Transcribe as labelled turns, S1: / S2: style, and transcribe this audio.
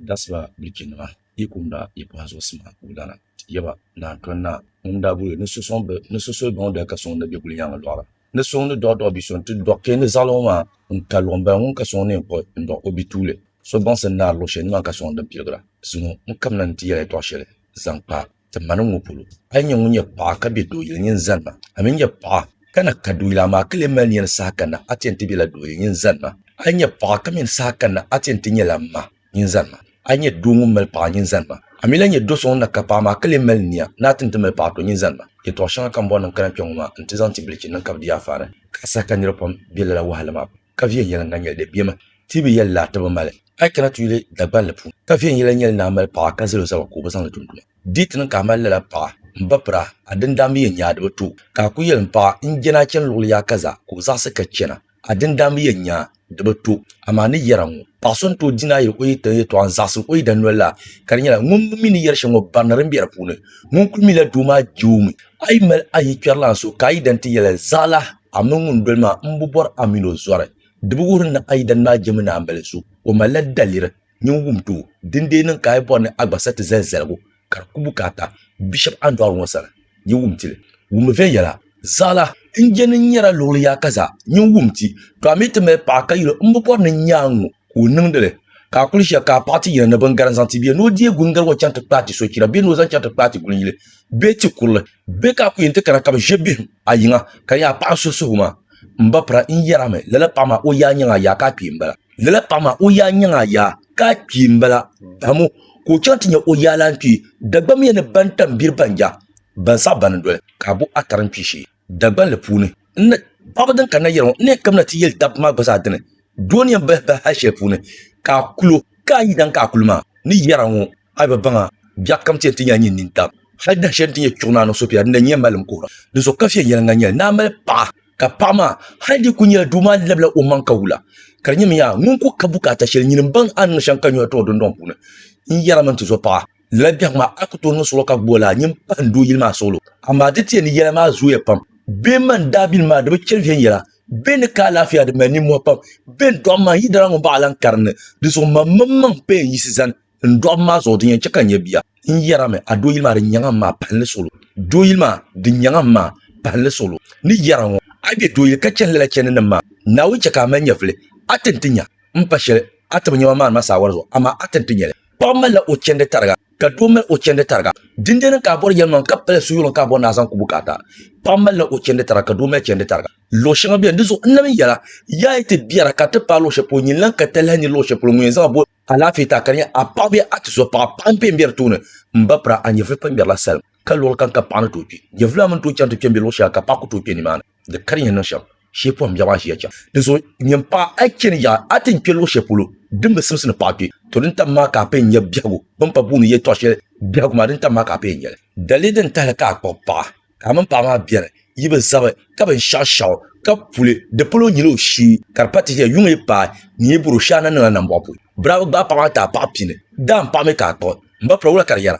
S1: Dasla bilichinima yi kum daa yi pahi zuɣusima wudana ti yɛ ba ni a tɔn naa ŋun daa boli ni so suhi baŋ dali ka suŋ ni bɛ guli yaaŋa dɔɣira. Ni suŋ ni dɔɣi dɔɣi bi so nti dɔɣi kpee ni zaɣiliŋɔ maa n-ka luɣ m-bala ŋun ka suŋ ni n kpuɣi n-dɔɣi o bi tuuli so baŋsim naari luɣ shɛli ni maa ka suŋ din piligira. Zuŋɔ n-kabina ni ti yɛli a dɔɣi shɛli zaŋ kpa a. Ti mani ŋɔ polo, a yi nyɛ ŋun nyɛ paɣa ka be dooyili nyin zani na, a mi nyɛ paɣa ka na ka dooyili amaa ka lee mali nia ni saha kanna a ti yɛn ti bela dooyili nyin zani na. A yi nyɛ paɣa ka mi ni saha kanna a ti yɛn ti nyɛla m ma nyin zani ma. A yi nyɛ doo ŋun mali paɣa nyin zani ma, a mi lahi nyɛ do so ŋun na ka paɣa amaa ka lee mali nia ni a ti ni ti mali paɣa to nyin zani ma. Yɛtɔɣ shɛŋa ka m bɔri ni n kana kpe ŋɔ maa nti zaŋ ti bilichini nima ka bɛ di ya a faani. Ka a saha ka nir pam be lala wahala maa pam. ka viɛnyɛliŋga nyɛli di bemi ti bi yɛli laa ti bi mali a yi kana ti yuli Dagbanli puuni ka viɛnyɛla nyɛli ni a mali paɣa ka zali o zaba ka o bi zaŋli tum tuma di yi ti niŋ ka a mali lala paɣa n ba pira a dindaan bi yɛn nya a di bi to ka a ku yɛli n paɣa n jɛni a chani luɣili yaɣa ka za ka o zaɣisi ka chana a dindaan bi yɛn nya di bi to amaa ni yɛra ŋɔ paɣa so n tooi di naayili o yi tiŋ yɛtɔɣa n zaɣisi o yidana noli la ka di nyɛla ŋun mi ni yɛri shɛli ŋɔ barina din be di puuni ŋun kuli mi la doo maa je o mi a yi mali a yikpɛrilana so ka a yidana ti yɛli zaɣila A mini ŋun doli maa m bi bɔri a mini o zɔri. Di bi wuhiri ni a yi dani maa jɛmi ni a ni bali so, o malila daliri nyin wum ti o. Dindee niŋ ka a yi bɔri ni a gba sa ti zali zaligu ka di ku bukaata Bishop Andɔɣiri ŋɔ sani, nyin wum ti li. Wummi viɛnyɛla. Zaɣila n jɛni n nyara luɣili yaa ka zaa nyin wum ti, to a mi ti mali paɣa ka yuli o m bi bɔri ni n nya a ŋ-ŋɔ ka o niŋdi li. Ka a kuli ʒiya ka a paɣa ti yina ni bingarin zaŋ ti bee ni o deei gulingaliguŋɔ chaŋ ti kpaai ti sochira bee ni o zaŋ chaŋ ti kpaai ti gulinyili. bee ti kurili bee ka a ku yɛn ti kana ka bi ʒe bihim a yiŋa ka nya a paɣa n-suhi suhigu maa? M ba pira, n yɛr a mi, lala paɣa maa o yaa nyaŋ a yaa ka a kpee m-bala. Lala paɣa maa o yaa nyaŋ a yaa ka a kpee m-bala, dam o ka o chaŋ ti nya o yaa lan kpee. Dagbammiya ni bantambiri ban ja ban saɣi bani n-doli ka a bo atari n-kpe shee Dagbanli puuni. N ni, paɣaba din kanna yɛliŋɔ, n ni yɛn kabina ti yɛli dabba maa gba zaa dini, doo ni yɛn bahi bahi hal shɛli puuni ka a kul o, ka a yi daŋ ka a kuli ma a ni yɛr a ŋɔ, A yi bi baŋ a, biɛɣ kam ti yɛn ti nyɛla nyin nintab. Hal dahin shɛli n ti nyɛ Chuɣu Naa niŋ so pia din na nyɛ malim kuhira ni zuɣu ka viɛnyɛliŋga nyɛli. Naa mali paɣa, ka paɣa maa hal dii kul nyɛla doo maa labila o maŋ ka wula. Ka di nyɛmi yaa ŋun kul ka bukaata shɛli, nyin m-baŋ a ni niŋ shɛŋa ka nyɔhi ti o dundɔŋ puuni n-yɛra mini ti zo paɣa. Lala biɛhigu maa, a ku tooi niŋ suɣulo ka gbubi o laa nyin pahi n doo yili maa suɣulo. Amaa di ti yɛn ni yɛla maa zooya pam. Bɛ ni mani daabilim maa, di bi chɛ viɛnyɛla. Bɛ ni ka alaafia, di mali nimmɔhi pam. Bɛ ni dɔɣi maŋ, yi dala ŋun baɣa lan karinli. Dinzuɣu mam mini maŋ paya n-yiɣisi zani. N dɔɣim maa zuɣu di yɛn chɛ ka n nyɛ bia. N yɛrimi, A dooyili maa din nyaŋ a maa pahinli solo. Dooyili maa din nyaŋ a maa pahinli solo. Ni yɛra ŋɔ, A bɛ dooyili ka chani lala chɛndinim maa. Naawuni chɛ ka a mali nyɛvili, a ti ni ti nya m pa shɛli a tibi nyɛma maa ni maa saawari zuɣu, amaa a ti ni ti nya li. Paɣ malila o chɛndi tariga, ka doo mal o chɛndi tariga. Dindin n-ka a bɔri yɛlimaŋli, ka pala suyuɣili n-ka a bɔri ni a zaŋ ku bukaata. Paɣ malila o chɛndi tariga, ka doo mal chɛndi tariga. Luɣ shɛŋa beni, di zuɣu n lahi mi yɛla, Yaa yi ti biɛra ka ti paai luɣ shɛli polo, nyin lan ka talahi ni luɣ shɛli polo ŋun yɛn zaŋ a boli. Alaafee ta ka di nyɛ a paɣa bee a tizo paɣa paɣa n pɛ n bɛ di tooni n ba pira a nyɛvuli pɛ n ŋmɛrila salim ka luɣuli kam ka paɣa ni tooi kpɛ nyɛvuli maa mini tooi chaŋ ti kpɛ n bɛ luɣu shɛŋa ka paɣa ku tooi kpɛ nimaani di ka di yɛn niŋ shɛm shee pɔhim biɛɣu maa ʒiya chɛŋ di zuɣu nyɛm paɣa a chɛni yaɣa a ti ni kpɛ luɣu shɛli polo din bi simsi ni paɣa kpɛ to din tam maa ka a pɛ n nyɛ biɛhigu bin pa buɣu ni yɛtɔɣa shɛli biɛhigu maa din tam maa ka a pɛ n nyɛli dali din tahali ka a kpuɣi paɣa Ka a mini paɣa maa bɛri, yi bi zabi, ka binshɛɣu shɛɣu, ka puli, di polo n nyili o shee, ka di pa ti ʒiya, yuŋ yi paai, nyin yi buri o shee a na niŋla nambɔɣu polo. Birabi gbaai paɣa maa ti a paɣa pini, daan paɣa mi ka a kpuɣi, m ba pula wula ka di yɛra?